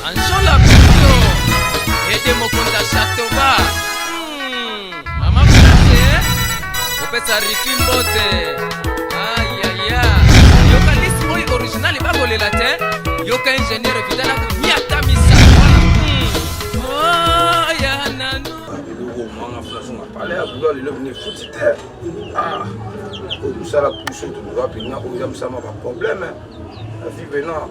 Anjola Pito, Ede Mokonda Chatoba, hmm, Mama Pete, Opesa Ricky Mbote, ayaya, yoka list oyo original bakolela te, yoka ingénieur Vidala Miata Misa. Hmm. Oh, ya nanu. pale ya bulo lelo bino efuti te ah, oyo tosala kuso toloba mpenza oyo eza mosala ma baproblème na vie venant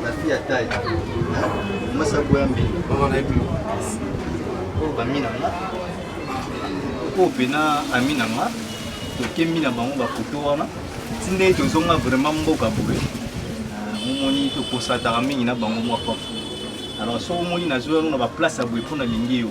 La fille à taille. Hein? Masa Boyambi. Maman na epi. Oh, ba mina nga. Oh, pena amina nga. Tokemi na bango ba photo wana. Tinde tozonga vraiment mboka boye. Momoni tokosataka mingi na bango mwa pafu. Alors soki omoni nazwi yango na baplace ya boye mpo nalingi yo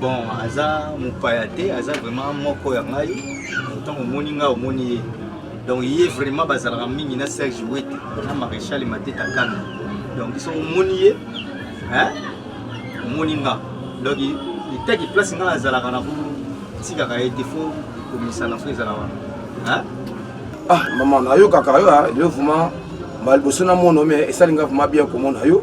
bon aza mopaya te aza vraiment moko ya ngai ntango omoni ngai omoni ye donc ye vraiment bazalaka mingi na serge wete na maréchal mateta kano donc biso omoni ye omoni nga donc etaki place ngai azalaka na kotikaka ye te fo komisana fo ezala wana ah mama nayokaka yo yo vraiment mbala liboso na mono me esali ngai vraiment bien komona yo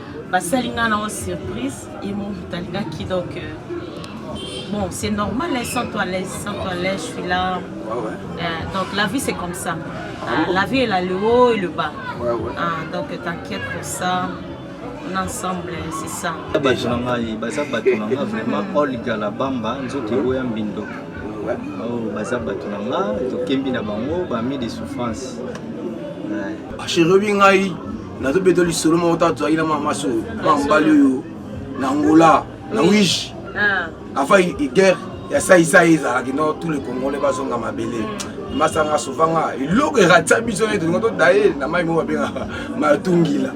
basali nga na o surprise et mon talingaki donc euh, bon c'est normal hein, sans toi l'aise sans toi l'aise je suis là ah ouais. euh, donc la vie c'est comme ça euh, la vie elle a le haut et le bas ouais, ouais. Euh, donc t'inquiète pour ça on est ensemble c'est ça bato na ngai baza bato na ngai vraiment olga la bamba nzoto egoya mbindo oh, baza bato na ngai tokembi na bango bami de souffrance acherebi ngai nazobeta lisolo moko ntango tozalaki na mama maso mwa mobali oyo na angola na wige ah. avant guerre ya saisai ezalaki no tous les congolais bazonga mabele mm. masanga sovanga eloko eratisa biso nete tolinga todaye na mai moko babengaka matungila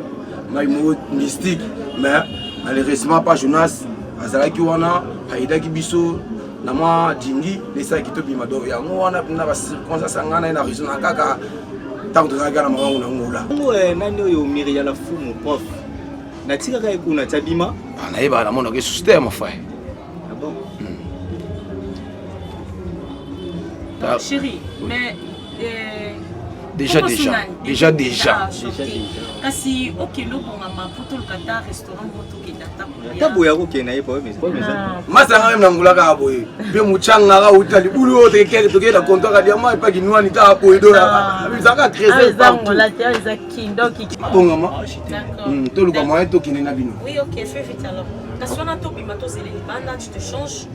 mai moko mystique mais malheureusement pa jonas azalaki wana ayidaki biso na mwa jingi lesalaki tobima do yango wana mpena bacirconstance yanga na ye na raisona kaka ntango tozalaki na mawango na ngola yango eh, nani oyo miria la fumu prof natikaka ye kuna ti abima ah, nayebaka namonaka esusu te ya mafai chérie mais eh, déjà déjà déjà déjà kasi okende obongama mpo toluka ta restaurant ata boye akokende na ye masanga meme na ngula kaka boye mpe mochanga kaka uta libulu oyo tekekeke tokei na konto kaka diama epa kinwani kaka boye doyaka bizaka trésebongama toluka moyen tokende na bino kasi wana tobima tozela libanda tu te change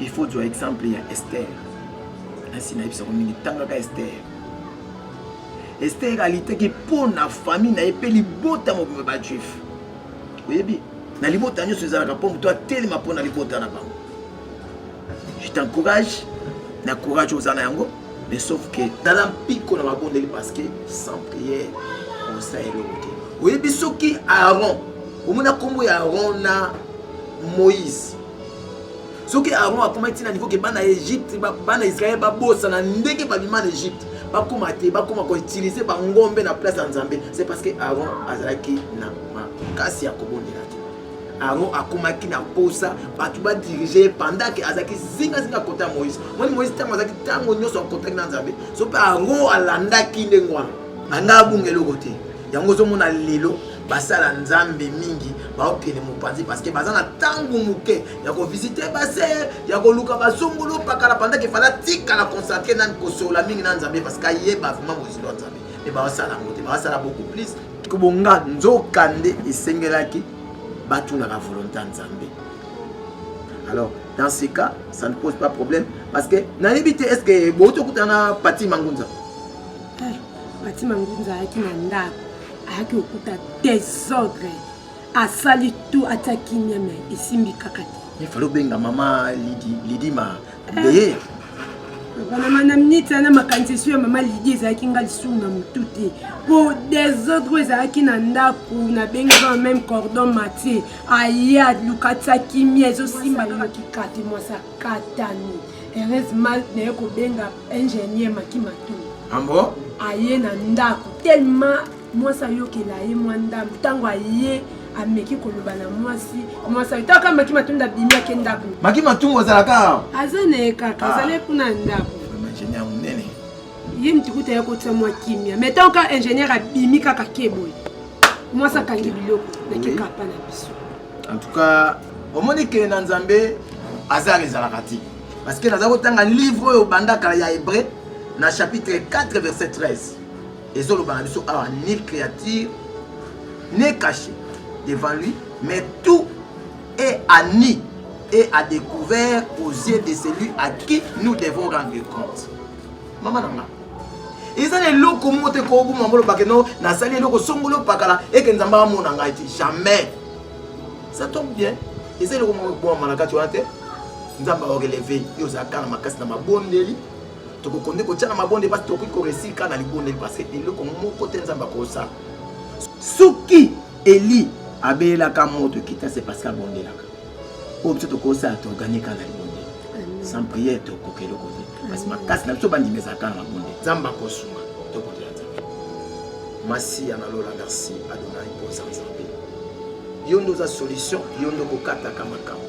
il faut ozwa exemple ya ester nasi nayebisako mingi tangaka ester ester alitaki mpo na famille na ye mpe libota mobimba bajuif oyebi na libota nyonso ezalaka mpo moto atelema mpo na libota na bango je t'encourage na courage oza na yango mais sauf que tala mpiko na mabondeli parce que sans prière osa eloko te oyebi soki aaron omona nkombo ya aaron na moïse soki aaron akoma ntina niveau ke bana ya egypte bana israel babosana ndenge babima na egypte bakoma te bakoma koutilize bangombe na place ya nzambe c'est parce que aaron azalaki na makasi ya kobondela te Aaron akomaki na mposa bato badirige ye pendant ke azalaki zingazinga kota ya moïse moni moïse ntango azalaki ntango nyonso akotaki na nzambe so mpe aaron alandaki ndenge wana anga abunga eloko te yango ozomona lelo basala nzambe mingi baokende mopanzi parceke baza na ntango moke ya kovisite base ya koluka bazongolo pakala pendant efala tikala concentre na kosola mingi na nzambe parceke ayeba vraimen mozindo ya nzambe mpe baosala yango te baosala beaucoup plus kobonga nzokande esengelaki batunaka volonté ya nzambe alors dans ce cas ça ne pose pas problème parce que nayebi te est ce que bouti okutana na pati mangunza eh, pati mangunza ayaki na ndako ayaki kokuta desordre asali tout atya kimia me esimbi kaka te efali obenga mama lidi, lidi ma Beye. Wana madame Nita na makanisi so ya mama Lydie ezalaki nga lisusu na motu te. Po desordre oyo ezalaki na ndako na bengi ba même cordon matie. Aya lukatisa kimia ezosimba na kikati mwasa katani. Heureusement naye kobenga ingénieur Maki Matou. Ambo? Aye na ndako tellement mwasi ayokela ye mwa ndambo ntango aye ameki koloba na mwasi mwasi ayota kaka maki matumbu abimi ake ndako maki matumbu azalaka aza na ye kaka ah. azali kuna ndako ingénieur monene ye mitukuta ya kotisa mwa kimia mais ntango kaka ingénieur abimi kaka keboye mwasi akangi biloko na kekapa na biso en tout cas omoni kele na nzambe azar ezalaka te parce que naza kotanga livre oyo obanda kala ya hébreu na chapitre 4 verset 13 ezoloba na biso awa ni créature ne caché devant lui mais tout est à nu et à découvert aux yeux de celui à qui nous devons rendre compte mama na nga eza na eloko moko te koboma molobake no nasali eloko songolo pakala eke nzambe amona ngai te jamais ça tombe bien eza eloko moko ekoboma na kati wana te nzambe aokeleve yo ozalaka na makasi na mabondeli tokoki nde kotya na mabonde mpasi tokoki koresika na libondeli parce que eloko moko te nzambe akosala soki eli abelelaka moto ekita se parce que abondelaka oyo biso tokosala toorganika na libondeli sans prière tokoka eloko te kasi makasi na biso bandimi ezalaka na mabonde nzambe akosunga tokotela nzambe masiya na lola merci adonai mpoza nzambe yo nde oza solution yo nde okokataka makambo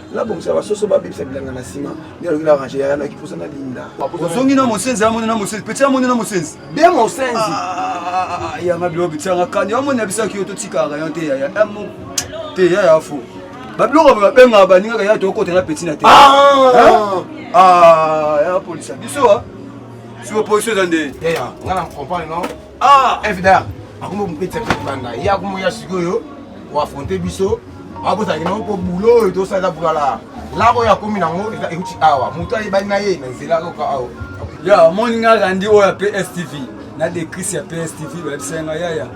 nabongisa basoso babebisa bilanga na nsima nde aloki na range yaya naki mposa na linda ozongi na mosenzi amoni na mosenzi peti amoni na mosenzi be mosenzi ah, yanga biloko bitianga kani amoni na bisaki yo totikaka yo te yaya amo te yaya fo babiloko boye babengaka baningaka yaya tokota na peti na te ah! Ah, ya polisa biso a si oposition eza nde yaya nga na comprendre non Ah, FDR, akomi mopeti ya kibanda. Ye akomi ya sikoyo ko affronter biso. Abota kino mpo boulot oyo tosala eza boulot la. Labo oyo akomi nango eza euti awa. Moto ayebani na ye na nzela kaka awa. Ya omoni nga Randy oyo ya PSTV na decris ya PSTV bayebisaki nga yaya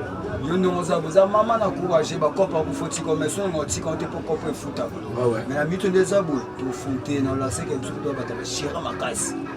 yo ndenge oza boza mama na courage bakopa kofotika omesonga otika ote mpo kopo efutaka me na mito nde eza boye tofute na olaseke biso kutu babata bashira makasi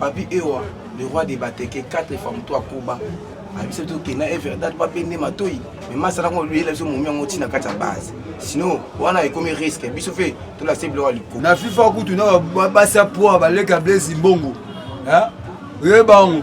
Papi Ewa, le roi de Bateke, quatre femmes, toi Koba. abisa biso kenda e verdad babende matoi me masala ngo luyela biso momi yango ntina kati ya base sinon wana ekomi risque biso mpe tolakisa biloko ya likolo na fifa kutu na basi ya poa baleka blaise mbongo oyeba yango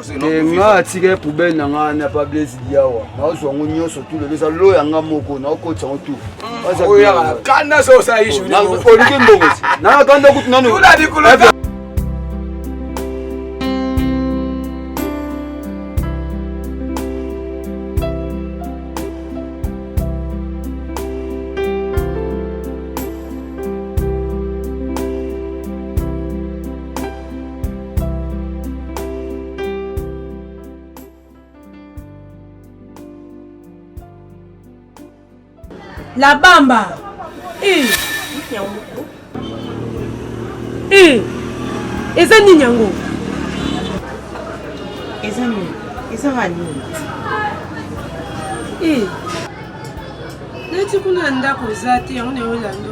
te nga atika ye poubele na nga na pa blaise diawa naozwa yango nyonso tu lelo eza lo ya nga moko naokotisa yango tu oliki mbongo nanga kanda kutu nanu La Bamba. Eh. Eh. Eza nini yango? Eza nini? Eza nini? Eh. Neti kuna ndako eza te yango na yo lando.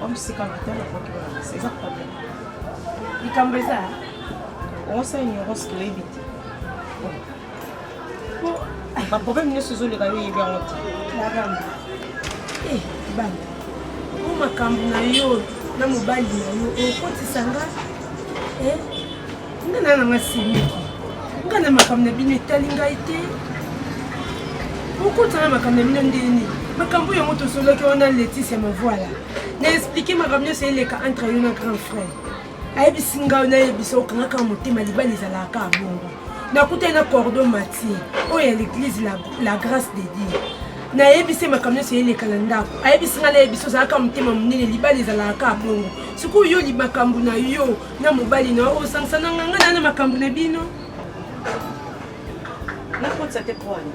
Wamsika matala kwa kiwa na sasa problem. Likambo eza osa ignorance kilo yebi te. Ba problème nyonso ezoleka yo yebi yango te. Nagamba. Eh, banda. Oyo makambo na yo na mobali na yo okotisa nga eh, nga na nanga semeki nga na makambo na bino etali ngai te okotana makambo na bino ndeni makambo yango tosolaki wana letise mavuala na explike makambo nyonso eleka entre yo na grand frère ayebisi ngai nayebisa okangaka motema libala ezalaka bongo nakutani na cordo matie oyo ya l'église la, la grâce de dieu nayebisi makambo nyonso eleka na ndako ayebisi ngai nayebisi ozalaka motema monene libala ezalaka bongo sikoyo yo makambo na yo na mobali na yo osangisa na nganga na na makambo na bino nakotisa te pwani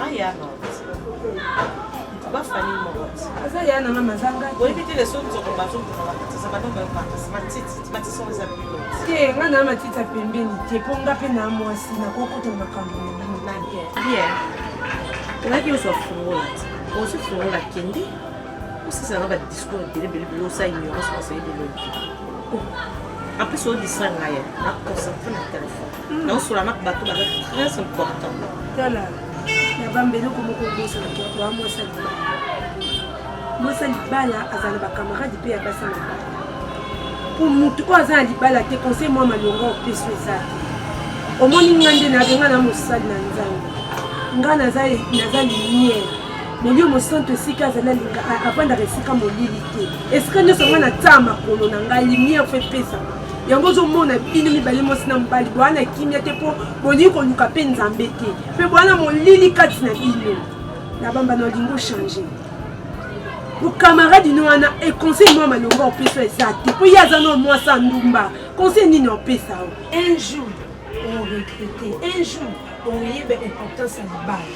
ayama bafani moko aza ya na mama azanga oyebi te leso nzoko bazobakatisa bana bakatisa matiti matisi oyo eza bino te nga na matiti ya pembeni te mpo nga mpe na mwasi nakokota makambo na bino na bien bien olaki ozwa fungola te ozwi fungola kende osisa nga badiscours ebele ebele ebele osa ignorance osa ebele en plus odistra nga ye na concentre na telefone hmm. naosola na bato baza très important tala ya bambeli okomoko obosana toa mwasa libala mwasa libala azala bacamarade mpe ya basi na bala mpo motu oyo aza na libala te conseil mwa malonga opeso eza te omoni nga nde nabenga na mosali na nzambe nga naza lumière molio mosantu esika azali alinga avandaka esika molili te esika nyonso ngai nataa makolo na ngai limiere fo epesaka yango ozomona bino mibale mwasi na mobali boya na kimia te mpo bolingi koluka mpe nzambe te mpe boya na molili kati na bino na bamba na olingi ochange bokamaradi no wana econseil mwa malonga opesa eza te mpo ye aza na mwasi andumba conseil nini opesa o un jour oregrete un jour oyeba importance ya libala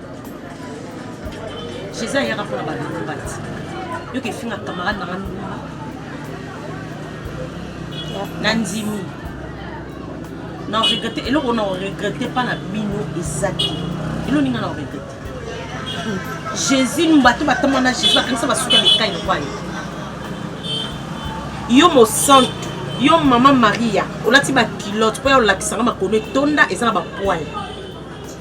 jesus ayaka mpona balobati yoka efinga camarade nanga ndumba nandimi na regrette eloko na regrette mpa na bino eza te elo ninga na regrette jésus bato batama na jésus bakangisa basuki ya mikai lokwayo yo mosantu yo mama maria olati bakilote mpo ya olakisanga makolo etonda eza na bapoile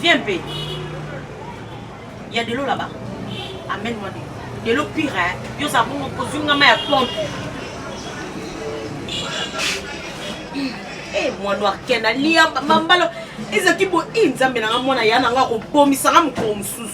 Viens mpe. Ya delo là-bas. Amène moi delo. Delo pire hein. Yo za bongo kozunga ma ya pompe. Eh moi noir ken alia mambalo ezaki bo i nzambe na nga mwana ya na nga kobomisa nga mokolo mosusu.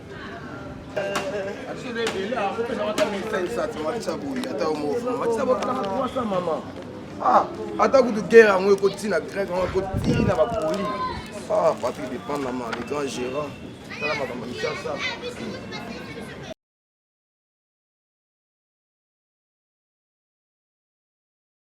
Ah, ata kutu guerre yango ekoti na grec yango ekoti na bapoli ah, papi depend na ma le grand gérant tala makambo misasa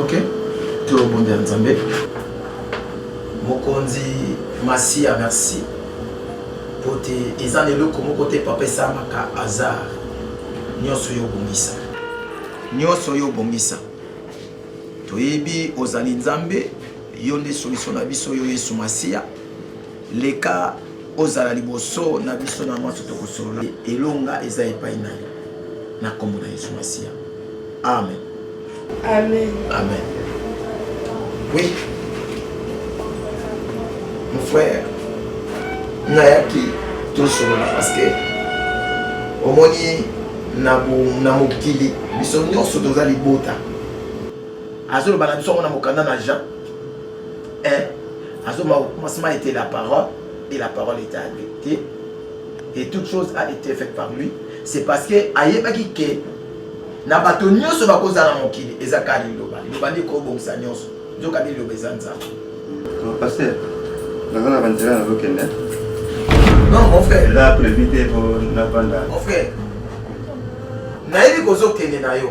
Ok, tobondela Nzambe. Mokonzi Masiya, merci mpo te eza na eloko moko te papa esalamaka hasard. Nyonso yo obongisa, nyonso yo obongisa. Toyebi ozali Nzambe, yo nde solution na biso, yo Yesu Masiya. Leka ozala liboso na biso na mwanso tokosolola. Elonga eza epai na yo na nkombo na Yesu Masiya. Amen. Amen. Amen. Oui. Mon frère, nayaki tosolola parce que omoni na mokili biso nyonso toza libota azoloba na biso yango na mokanda na jean Eh, azoma au commencement était la parole et la parole était avec Dieu et toute chose a été faite par lui. C'est parce que ayebaki que na bato nyonso bakozala na mokili eza kaka liloba liloba nde ekobongisa nyonso nzoka nde liloba eza nzambe paster naza na banzela nazokende non mon frère eza prévu te po navanda mon frère nayebi kozokende na yo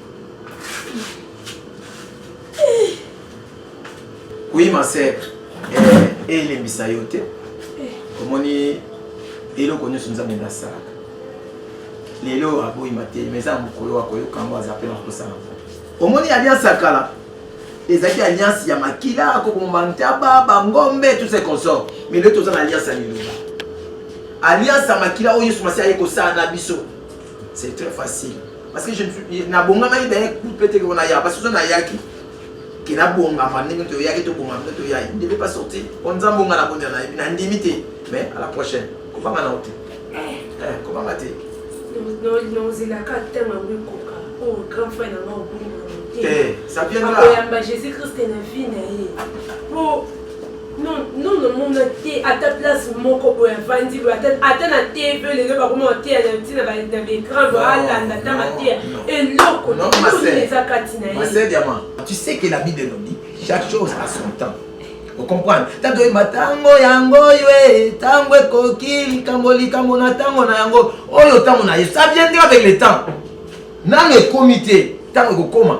Oui, ma sœur. Eh, eh, elembisa yo te. Eh. Omoni eloko nyonso nzambe nde asalaka lelo aboyi matei ma eza mokolo akoyoka yango aza mpe na mposa na omoni alliance ya kala ezalaki alliance ya makila akoboma ntaba bangombe tout ce consort mais lelo toza na alliance ya liloba alliance ya makila oyo yesu masi aye kosala na biso C'est très facile. Parce que je na bonga mai d'un coup peut-être qu'on a ya parce que on a yaki qui na bonga ma ndenge to yaki to bonga to ya il ne devait pas sortir. On nous a bonga la bonne na na ndimité mais à la prochaine. Comment on a été Eh, eh comment on a été Non non non c'est la carte tellement oui coca. Oh grand frère na moi au Eh, ça viendra. Akoyamba Jésus-Christ na vie na ye. Po Non, non, non, mon athée, à ta place, mon cobo, un vandi, à ta, à ta, la TV, les deux, par contre, athée, à la tina, bah, dans les crans, bah, à la, à ta, ma thé, et non, qu'on a, ma sœur, les acatinaïs. Ma sœur, diamant, tu sais que la Bible nous dit, chaque chose a son temps. okomprendre ntango oyeba ntango yango oyo e ntango ekoki likambo likambo na ntango na yango oyo ntango na yesu ça viendra avec le temps nano ekomi te ntango ekokoma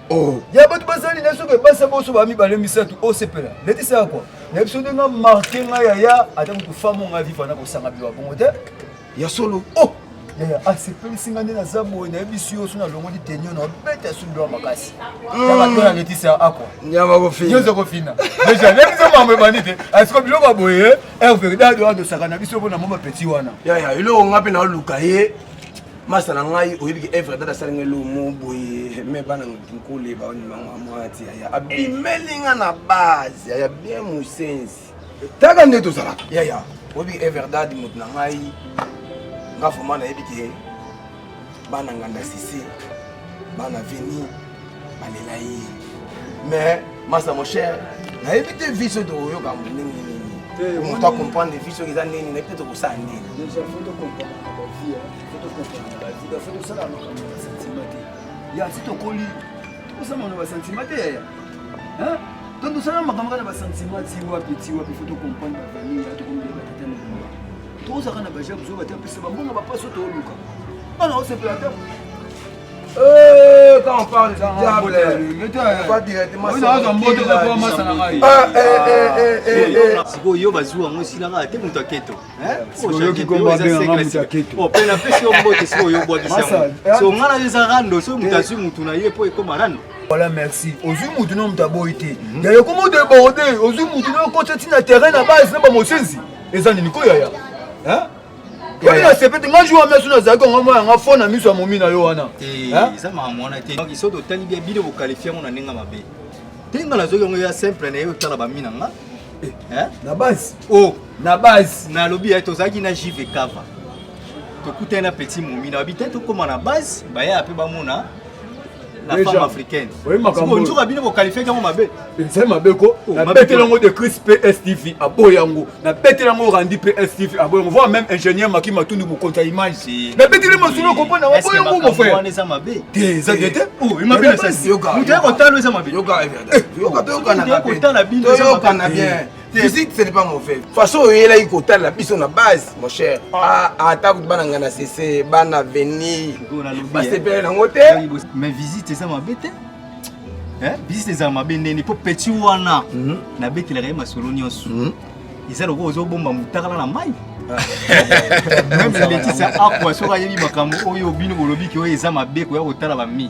oh. ya bato basali na soki basa boso ba mibale misato osepela letisa ya kwa na biso nde nga marke nga yaya ata moto famo nga viva na kosanga biwa bongo te ya solo oh. yaya asepelisi ah, nga nde naza boye nayebisi yo so nalongoli tenio na obeta ya sundwa makasi nabatona hmm. letisa akwa nyonso kofina deja nayebisa mambo ebandi te asiko ah, biloko ya boye erverdado eh, adosaka na biso mpo na mwa bapeti wana yaya eloko nga mpe naoluka ye masa na ngai oyebi ke evre dada asali ngai lomo boye me bana nkole baonimamwati yaya abimeli nga na base yaya bien mosenzi taka nde tozalaka yaya oyebi everdad moto na ngai nga vraimen nayebi ke bana nganda sise bana veni balela ye mais masa mon cher nayebi te vie soki tokoyoka ndenge nini moto acomprendre vie soki eza ndenge nini nayebi te tokosala ndenge ya si tokoli tokosamana basentima te yaya donc tosala makambo kaka na basentima ti wapi ti wapi fo tocomprendre bavamille ya tokomile batata na bima tozaka na bajabuzoba te apesa bambongo bapaso tooluka bana osepela te Eh, quand on parle du diable, on va directement sikoyo yo bazwi yango esila kaka te moto aketo mpe napesi yo mbote sikoyo obwakisi yango so ngai nayo eza rando soki moto azwi motu na ye mpo ekoma rando voilà merci ozwi motu na moto aboyi te yaya okoma deborde ozwi motu na okoti ntina terrain na base na bamosenzi eza nini koyaya Yaya. Yaya sepete nga jour amesu na zaki nga moya nga fona miso ya momi na yo wana. Eh, Hein? eza makambo wana te donc soki totali bia bino bokalifie yango na ndenge ya mabe te nga nazoki yango ya simple na ye otala bami na nga Hein? Na base. oh Na base. nalobi ya tozalaki na jv cava tokutani na petit momi na babi te tokóma na base bayaya mpe bamona la femme africaine bonjour bino bokalifaki yango mabe ezali mabe ko oh, nabeteli yango de cris pstv aboyi yango nabeteli yango randi pstv aboyi yango voi même ingénieur maki matundu mokonzi ya image nabeteli masolo okomona aboyi yango mofrère te eza te te moto ya kotala eza mabe toyokana bien visite ce n'est pas mauvais façon oyelaki kotala biso na base mon cher ah. ah, ata kutu bana ngai na sese bana veni basepele nango te mais visite eza mabe te visite ezala mabe ndeni mpo petit wana mhm. nabetelaka ye masolo nyonso mhm. eza lokola ozobomba motakala na mai meme letisa akwa soki ayebi makambo oyo bino bolobi ke oyo eza mabe koya kotala bami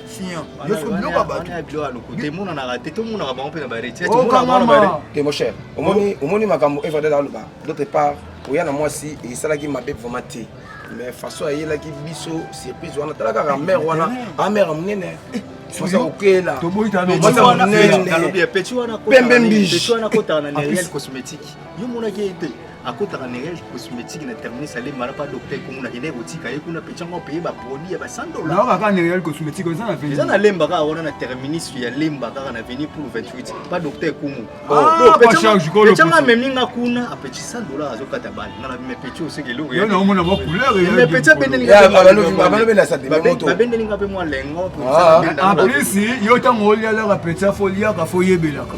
Sian, yo soki biloko ya bato. Emonanaka te, tomonaka bango mpe na bareti. Te mon cher, omoni omoni makambo Evadel aloba. D'autre part, oya na mwasi esalaki mabe vraiment te. Mais façon ayelaki biso surprise wana tala kaka mère wana, a mère munene. Sosa okela. Toboyi tano. Pembe mbishi. Pembe mbishi. Pembe mbishi. yo monaki ye te akotaka na real cosmétique na terminus alemba na pa docteur kongo na kende kotika ye kuna peti yango apaye baproduit ya ba 100 dollars naoka kaka na real cosmétique eza na veni eza na lemba kaka wana na terminus ya lemba kaka na veni pour 28 pa docteur kongo petianga amemi nga kuna apeti 100 dollars azokata bana nga na mepeti oseke eloko yo naomona mwa couleur mepeti abendelinga mpe mwa lengo en plus yo ntango olialaka peti afo oliaka fo oyebelaka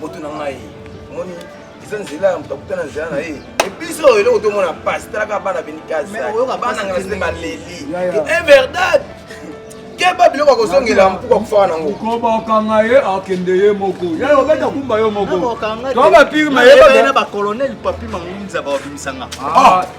moto na ngai omoni eza nzela ya moto akuta na nzela na ye ebiso oyo eloko tomona pasi talaka bana beni kasabana nga nase baleli everdad keba biloko akozongela mpuku akufaka nango koba okanga ye akende ye moko yaye obeta kumba yo moko tobapirma ye na bacolonel papi mangunza baobimisanga ah. ah.